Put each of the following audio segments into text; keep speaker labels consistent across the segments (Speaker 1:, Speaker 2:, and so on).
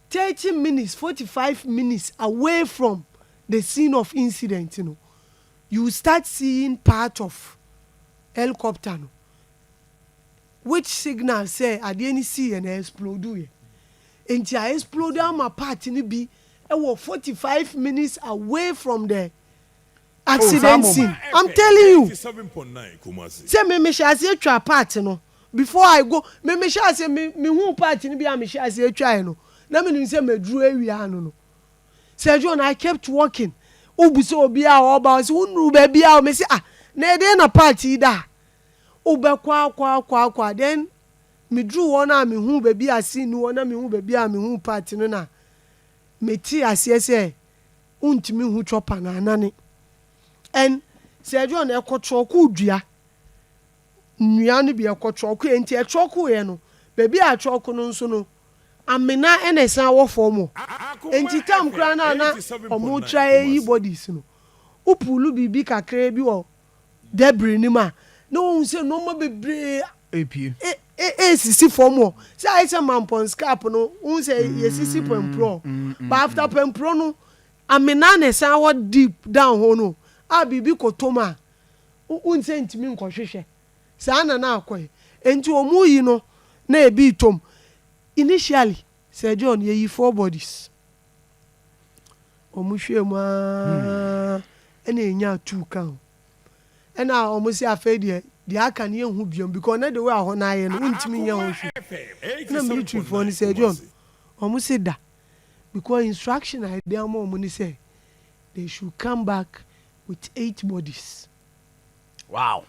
Speaker 1: thirty minutes, forty five minutes away from the scene of incident no, you will start seeing part of helicopter no which signal sɛ adeɛ no siiɛ no exploduiɛ. Nti a explode ama part no bi wɔ forty five minutes away from the accident scene I'm telling you
Speaker 2: sɛ me mehyɛ
Speaker 1: aseɛ twaa part no before I go me mehyɛ aseɛ me mehuu part no bi a mehyɛ aseɛ twaeɛ no na menim sɛ maduru awia ano no sɛ John I kept walking wobu sɛ obi a ɔba ɔsɛ wonuru baabi a me sɛ ah na ɛdeɛ na part yi da a wobɛkɔ akɔ akɔ akɔ a then meduru hɔ no a mehu baabi a scene no wɔ na mehu baabi a mehu part no na mete aseɛ sɛ wontumi nhu chopper no anane. And sɛ ɛdwoɔ no ɛkɔ trɔkoo dua nnua no bi ɛkɔ trɔkoeɛ nti ɛtrɔkoeɛ no baabi a trɔko no nso no amena na ɛsan wɔ fam hɔ nti tam koraa no a na wɔtra ɛyi bodies no wopuulu biribi kakraa bi wɔ Dabere no mu a, na wɔhu sɛ nnoɔma bebree
Speaker 3: ɛresisi
Speaker 1: fam hɔ. Sɛ ayɛ sɛ Mampɔn scrap no, wohu sɛ yɛsisi Pɛmprɔ. But after Pɛmprɔ no, Amena na ɛsan wɔ deep down hɔ no a biribi kɔtɔ mu a, wohu sɛ ntumi nkɔhwehwɛ. Saa na na akɔ. Enti wɔreyi no na ɛbi retɔ mu. Initially, Sir John yɛyi four bodies wɔn hwɛɛ mu aa na yɛnyaa two ka ho na wɔn se afei deɛ deɛ aka no yɛnhu biom because na the way a hɔ no ayɛ no wontumi nyɛ ho hwee na military foɔ no Sir John wɔn se da because instruction a yɛde ama wɔn ne sɛ they should come back with eight bodies. Wow.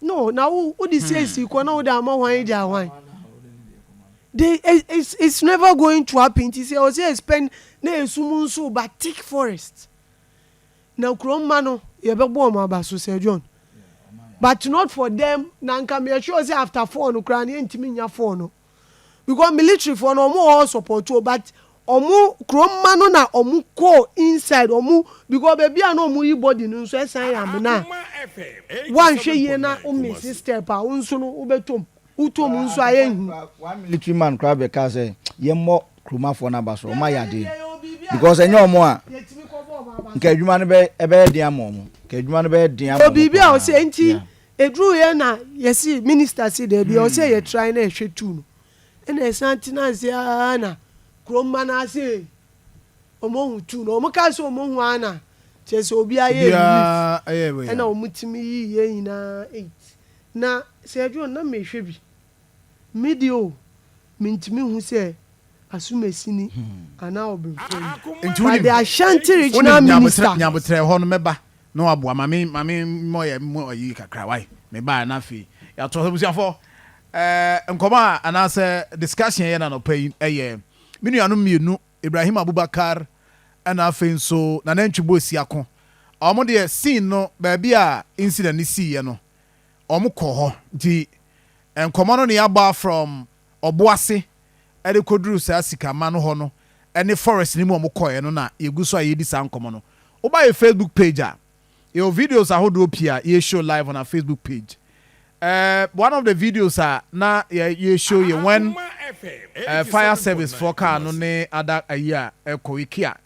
Speaker 1: No, na wo wo de si esi kɔ na wo de ama hwan gya hwan. They it's it's never going to happen ti sɛ ɔsɛ expend na esum nso ba thick forest. Na kuro mma no yɛbɛbɔ wɔn aba so sɛ John. But not for them na nka meyɛ sure sɛ after four no koraa no yɛntumi nya four no. because military foɔ no ɔmo wɔ hɔ support o but ɔmo kuro mma no na ɔmo kɔɔ inside ɔmo because baabi a na ɔmo yi body no nso ɛsan yɛ amena wanhwɛ yie na wo miss step a wo nso no wobɛtɔm wotɔm nso a ɛyɛ hu. one military man
Speaker 4: koraa bɛkaa sɛ yɛmmɔ kuromafoɔ no aba so ɔmo ayɛ adeɛ because ɛnyɛ ɔmo a nka adwuma no bɛ ɛbɛyɛ den ama ɔmo nka adwuma no bɛyɛ den ama ɔmo paa. Obibi a ɔsɛ nti.
Speaker 1: Yeah. Eduruu hɔ na yɛsee minista se daabi, ɔwɔ sɛ yɛtrae na yɛhwɛ tu no. Ɛna yɛsan tenaa ase ara na kurom mma no ara se wɔahu tu no. Wɔkaa sɛ wɔahu ara na kyerɛ sɛ obiara yɛɛ relief. Ɛna wɔtumi yii yɛn nyinaa eight. Na Sir John, na merehwɛ bi. Me de o, mintumi nhu sɛ asumasi ni anaa ɔbenfo ni. Nti wonim, Ade Ashanti regional wonim minister. Nyabotrɛ, Nyabotrɛ hɔ no mɛba
Speaker 3: na waboa ma me ma me mmɔ yɛ mmɔ ayi kakra wae. Mebaa na afei yɛatoa so. Abusuafo, eh, nkɔmmɔ a anaasɛ discussion yɛ no anɔpa yi yɛ me nuanom mmienu, Ibrahim Abubakar ɛna afei nso Nana Ntwibo Asiako. Wɔn deɛ scene no baabi a incident no siiɛ no, Wɔn kɔ hɔ nti nkɔmɔ no nea abɔ from ɔboase ɛde kɔ duru saa sika ma no hɔ no ɛne forest no mu a wɔn kɔɛ no na yɛ gu so a yɛ di saa nkɔmɔ no wo ba yɛ facebook page a yɛ wɔ videos ahodoɔ pii a yɛ show live on our facebook page ɛɛ one of the videos a na yɛ yɛ show yɛ when ɛɛ fire service foɔ kaa no ne ada ayi a ɛkɔ wiki a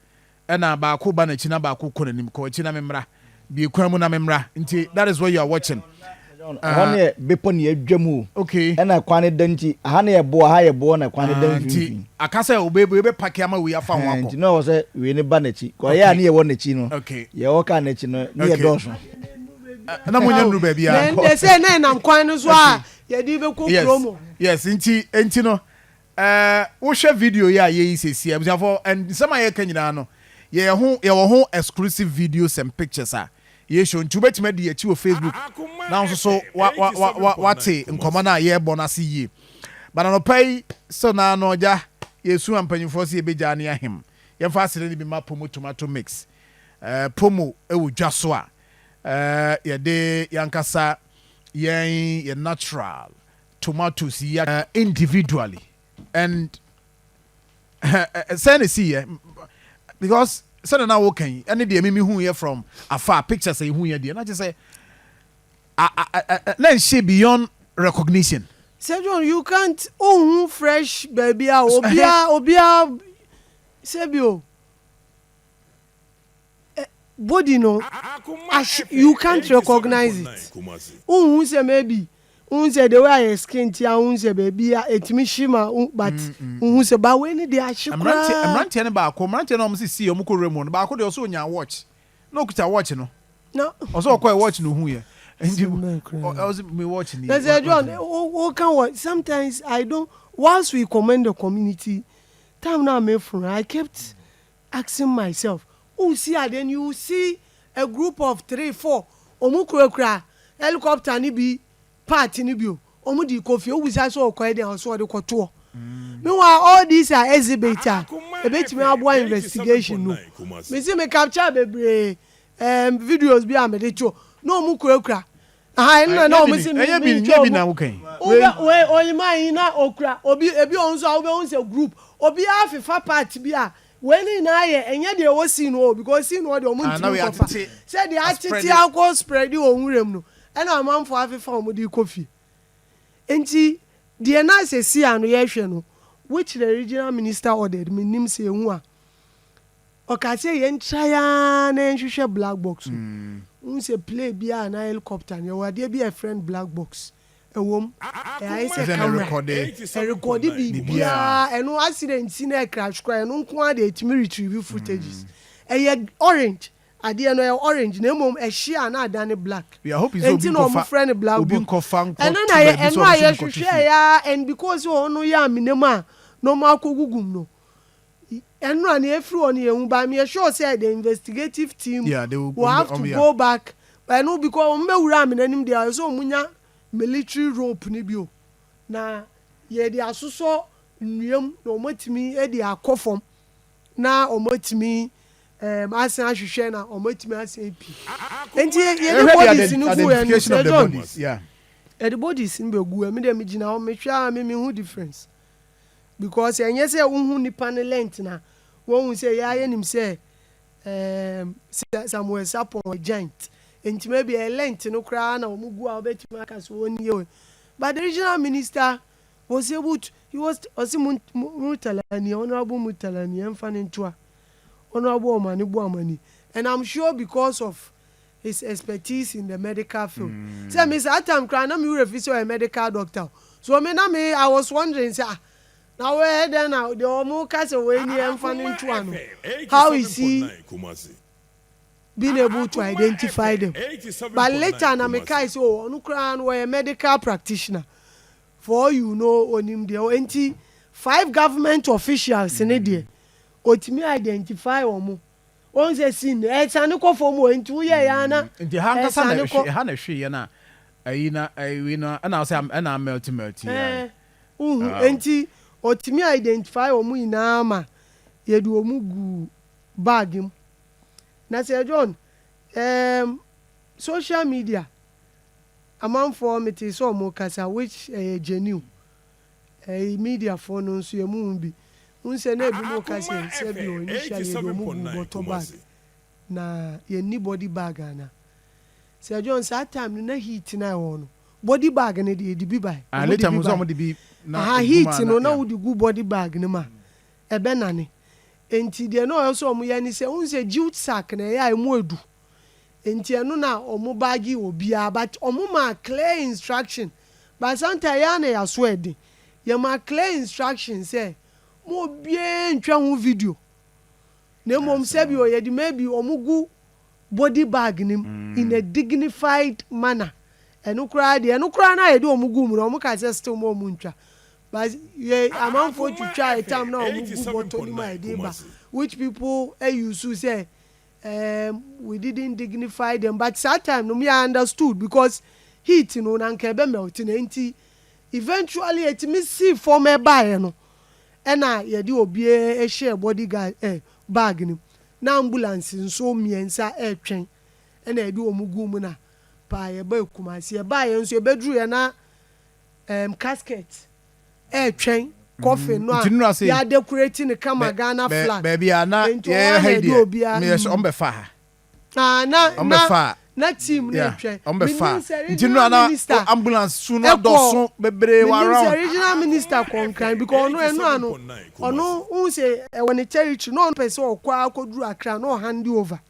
Speaker 3: Ɛna baako ba nakyi na baako kɔ nanim kɔ akyi na me mmra bie kwan mu na me mmra nti that is what you are watching ɛhɔ ne yɛ
Speaker 4: bepɔ ne yɛadwa mu o okay ɛna kwan ne
Speaker 3: da nti
Speaker 4: aha ne yɛ boɔ aha yɛ boɔ na kwan ne da mfimfini nti aka sɛ obe obe
Speaker 3: yɛbɛ pake ama wei afa ho akɔ nti na ɔwɔ sɛ wei ne
Speaker 4: ba nakyi kɔ ɛyɛ a ne yɛwɔ nakyi no okay yɛwɔ kaa nakyi
Speaker 3: no
Speaker 4: ne yɛ dɔɔso na
Speaker 3: mo nyɛ nuru baabi a then they say na ɛnam kwan
Speaker 1: no so a yɛde bɛkɔ kurom yes nti
Speaker 3: nti no Eh, wohwɛ video yi a yɛyi seesei a, abusuafoɔ, and nsɛm a yɛreka nyinaa no, yɛyɛ ho, yɛwɔ ho exclusive videos and pictures a yɛshow, nti wobɛtumi adi yɛn akyi wɔ Facebook na wo nso so wa, wa, wa, wa, wate nkɔmmɔ no a yɛrebɔ no ase yie. But anɔpa yi, still no ara no, Agya, yɛresua mpanyinfoɔ sɛ yɛbɛgyaa ne ahem. Yɛmfa asene no bi mma Pomo Tomato Mix. Eh, Pomo wɔ dwa so a, eh, yɛde yɛn ankasa, yɛn, yɛn natural, tomatoes yi ara individually and sɛn na esi yɛ because sɛdeɛ na woka yi ɛne deɛ mimi hu yɛ from afar pictures a ehu yɛ deɛ na kyerɛ sɛ na nhyɛ beyond recognition. sɛ
Speaker 1: john you can't ohu fresh baabi a obia obia sɛbi o. body no ahye you can't recognise it wonhu sɛ maybe wohu sɛ the way a yɛ skin te a wohu sɛ baabi a ɛtumi hye ma wo but wohu sɛ ba wei ne deɛ ahye Mmeranteɛ koraa mmeranteɛ no baako
Speaker 3: mmeranteɛ no a wɔn sisi wɔn kɔ nwura mu no baako deɛ ɔsɛ onyaa watch na ɔkuta watch no na ɔsɛ ɔkɔɛ watch no ohu yɛ nti Asɛm bɛn koraa ɔ- ni? ɔ- ɔsɛ me watch ni na sɛ wa- john watch ni. wo- woka
Speaker 1: wɔ sometimes i don't whilst we commend the community time no a meforo no i kept asking myself wo see a then you see a group of three four ɔmo kura kura helicopter no bi part no bi o ɔmo de kɔ fie wo bisa sɛ ɔkɔ yɛ dɛn ɔsɛ ɔde kɔ toɔ meanwhile all these are exhibit a ɛbɛtumi aboa investigation no me se me capture bebree ɛɛm videos bi a me de to na ɔmo kura kura Aha ɛno na na wɔn si mi ɛnyɛ bi nyɛ bi na wo
Speaker 3: kan. Wobɛ wei oyima
Speaker 1: yi na okura obi ebi wɔn nso a wobɛ wɔn sɛ group obi a fefa part bi a wei ne nyinaa yɛ ɛnyɛ deɛ ɛwɔ sii no hɔ because sii no hɔ deɛ wɔn ntumi nkɔ fa sɛ deɛ atete akɔ spread wɔn nwura mu no ɛna amanfoɔ afefa wɔn de kɔ fie nti deɛ na sɛ sii ano yɛhwɛ no which the regional minister ordered menim sɛ ehu a. Ɔkaa sɛ yɛn try aa na yɛn hwehwɛ black box no wohu sɛ play biaa anaa helicopter no yɛwɔ adeɛ bi a yɛfrɛ no black box ɛwom ɛayɛ sɛ camera ɛrekɔde biribiaa ɛno accident si na ɛcrash koraa ɛno nko ara deɛ ɛtumi retrieve footages ɛyɛ orange adeɛ no ɛyɛ orange na mmom ɛhye a na adane black ɛnti na
Speaker 3: ɔmo frɛ no black
Speaker 1: box ɛno
Speaker 3: na yɛ ɛno a
Speaker 1: yɛhwehwɛɛ aa and because hɔ no yɛ amena mu a na ɔmo akɔgugum no. Ɛnora na ɛfiri hɔ na yɛhu ba me yɛ sure sɛ the investigative team yeah, they will, will have to go back but no because wɔn bɛwura amena anim deɛ ɛsɛ wɔn nya military rope no bio na yɛde asosɔ nnuam na wɔn atumi de akɔ fam na wɔn atumi um, asan ahwehwɛ na wɔn atumi asan api nti yɛde bodies no gu yɛn no sɛ John yɛde bodies no bɛgu ɛmi deɛ megyina hɔ mehwɛ a me mehu difference because ɛnyɛ sɛ wohu nnipa no length na wɔhu sɛ yɛa yɛnim sɛ um, Samuel Sapon a giant nti maybe ɛyɛ length no koraa na wɔn gu a wɔbɛtumi aka so wɔn yie but the regional minister was able to he was ɔsi mu mutalani honourable mutalani ɛnfa ne ntoa honourable ɔmani bu amani and i'm sure because of his expertise in the medical field sɛ me saa time koraa na me wura fi sɛ ɔyɛ medical doctor o so me na me I was wondering sɛ ah na wei yɛ dɛn na deɛ wɔn ka sɛ wei ni ɛnfa ne nto ano how is he being able to identify them but later na me kae sɛ o ɔno koraa no ɔyɛ medical practitioner for all you know onim deɛ enti five government officials ne deɛ otumi identify wɔn. wɔn sɛ sin no ɛsane kɔ fam o nti woyɛ yɛ ana mm, nti ha nkasa na ɛhwe
Speaker 3: ɛha na ɛhwe yɛ na ayi na ayi na ɛna sɛ ɛna mɛlti mɛlti yɛ uhu nti
Speaker 1: otimi identify wɔn nyinaa ma yɛde wɔn gu bag mu na sɛ John ɛɛm social media amanfoɔ mete sɛ wɔn kasa which ɛyɛ genuine Eii mediafoɔ no nso yɛ moho bi wohu sɛ na ebinom reka sɛ sɛ bi wɔn initially yɛ de wɔn guu bɔtɔ bag na yɛn nni body bag anaa Sir John saa time no na heat no a ɛwɔ hɔ no body bag no deɛ yɛde bi bae Ah ne time no nso wɔn de bi
Speaker 3: na Aha ɛgu mu heat a no na na
Speaker 1: yeah wode gu body bag no mu a ɛbɛnane nti deɛ na ɔwɔ sɛ wɔn yɛ ne sɛ wohu sɛ jute sack no ɛyɛ a ɛmu edu Nti ɛno na ɔmo baage wɔ biaa but ɔmo maa clear instruction but sometimes yɛa na yɛaso ɛden yɛmaa clear instruction sɛ mo obiaa ntwa ho video na mmom sɛbio yɛde maybe ɔmo gu body bag no mu in a dignified manner ɛno koraa deɛ ɛno koraa no a yɛde ɔmo guu mu no ɔmo kae sɛ still mo ɔmo ntwa but yɛ amanfoɔ twitwaaɛ tam no a ɔmo gu bɔtɔ no mu a yɛde ba which people use sɛ Erm we didn't dignify them but saa time no me I understood because heat no na anka ɛbɛ melt na ɛnti eventually ɛtumi sii fam ɛbaeɛ no ɛna yɛde obiara hyɛɛ body guard eh bag no mu na ambulance nso mmiɛnsa ɛretwɛn ɛna yɛde wɔn guu mu na paa yɛbae Kumasi yɛbaeɛ nso yɛbɛduruiɛ na Ɛɛm casket ɛɛtwɛn coffin no a y'a decorate no kama Ghana flag nti wɔn a
Speaker 3: na ɛde obia mm. Ah na na na
Speaker 1: team no ɛtwɛn
Speaker 3: menim sɛ
Speaker 1: regional
Speaker 3: minister ɛkɔ menim sɛ regional minister kɔ
Speaker 1: Nkran because ɔno ɛno ano ɔno wohu sɛ ɛwɔ ne territory na ɔno pɛ sɛ ɔkɔ ara kɔduru Accra na ɔ hand over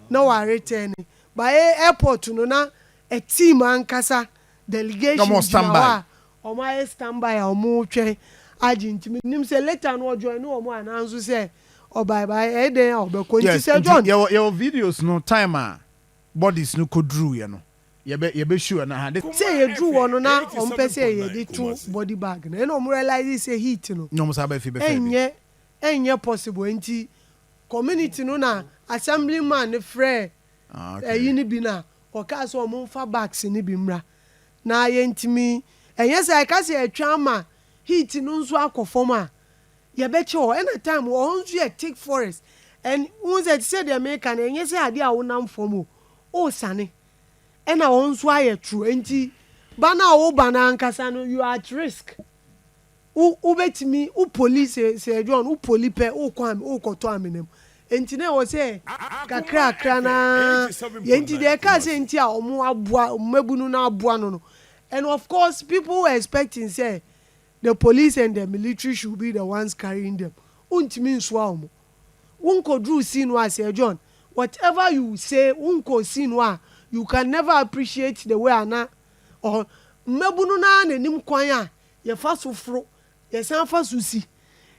Speaker 1: na wa return but airport no na a team ankasa Delegation gyina hɔ a
Speaker 3: ɔmo ayɛ stand
Speaker 1: by a ɔmo twɛn agye nti me nim sɛ later no ɔjoin ne ɔmo ananso sɛ ɔbae bae ɛyɛ dɛn a ɔbɛkɔ nti sɛ John. Yes nti yɛwɔ yɛwɔ videos no
Speaker 3: time a bodies no kɔ duruu yɛ no yɛbɛ yɛbɛ show ɛno aha. Sɛ yɛ duru hɔ no na
Speaker 1: ɔmo pɛ sɛ yɛde to body bag no ɛna ɔmo realize sɛ heat no ɛnyɛ
Speaker 3: ɛnyɛ
Speaker 1: possible nti community no na assembly man no frɛɛ ayi no bi no a, wɔkaa sɛ wɔmfa bags no bi mmra, na yɛntumi, ɛnyɛ sɛ yɛka sɛ yɛtwɛn ama heat no nso akɔ fam a, yɛbɛkyɛ hɔ. Ɛnna time wɔ hɔ nso yɛ thick forest, and wohu sɛ te sɛ deɛ meka no, ɛnyɛ sɛ adeɛ a wonam fam o, wosane, ɛnna hɔ nso ayɛ toro, enti ba no a woba no ankasa no, you are at risk. Wo, wobɛtumi, wo poli, sɛ, Sir John, wo poli pɛ, wokɔ ame, wokɔtɔ amena mu. Enti na ɛwɔ sɛ kakrakra no ara yɛ, nti deɛ ɛkaa sɛ nti a wɔn aboa, mmabunu no aboa no no, and of course people were expecting sɛ the police and the military should be the ones carrying them, wontumi nsoa wɔn. Wonkɔduruu scene hɔ a, Sir John, whatever you say, wonkɔɔ scene hɔ a, you can never appreciate the way a na, ɔhɔ, mmabunu no ara na ɛnim kwan a Yɛfa so foro, yɛsan fa so si.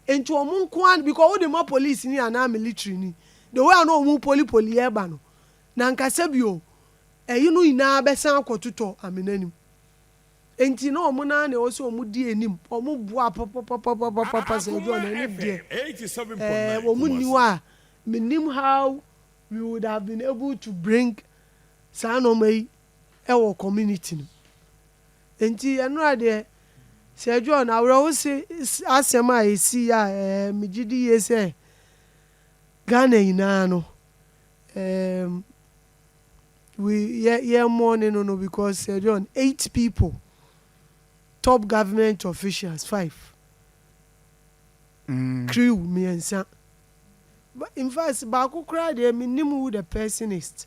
Speaker 1: Enti wɔn nko ara, because wode ma polisini anaa militirini, the way a na wɔn poli poli yɛ ba no, na anka sɛbio ɛyi no nyinaa bɛsan akɔ totɔ Amena anim. Enti na wɔn no ara na ɛwɔ sɛ wɔn di anim, wɔn boa papapapapapa sɛ ɛduru Amena anim deɛ, ɛɛ wɔn nni hɔ a, mennim how we would have been able to bring saa nnoɔma yi wɔ community no mu. Enti ɛno a deɛ, Sir John, awerɛhose asɛm a ɛsii a ɛɛ megye di yie sɛ Ghana nyinaa no ɛɛm we yɛ yɛ mourning no no because Sir John, eight people, top government officials five, crew mmiɛnsa, ba in fact baako koraa deɛ mennim who the person ist.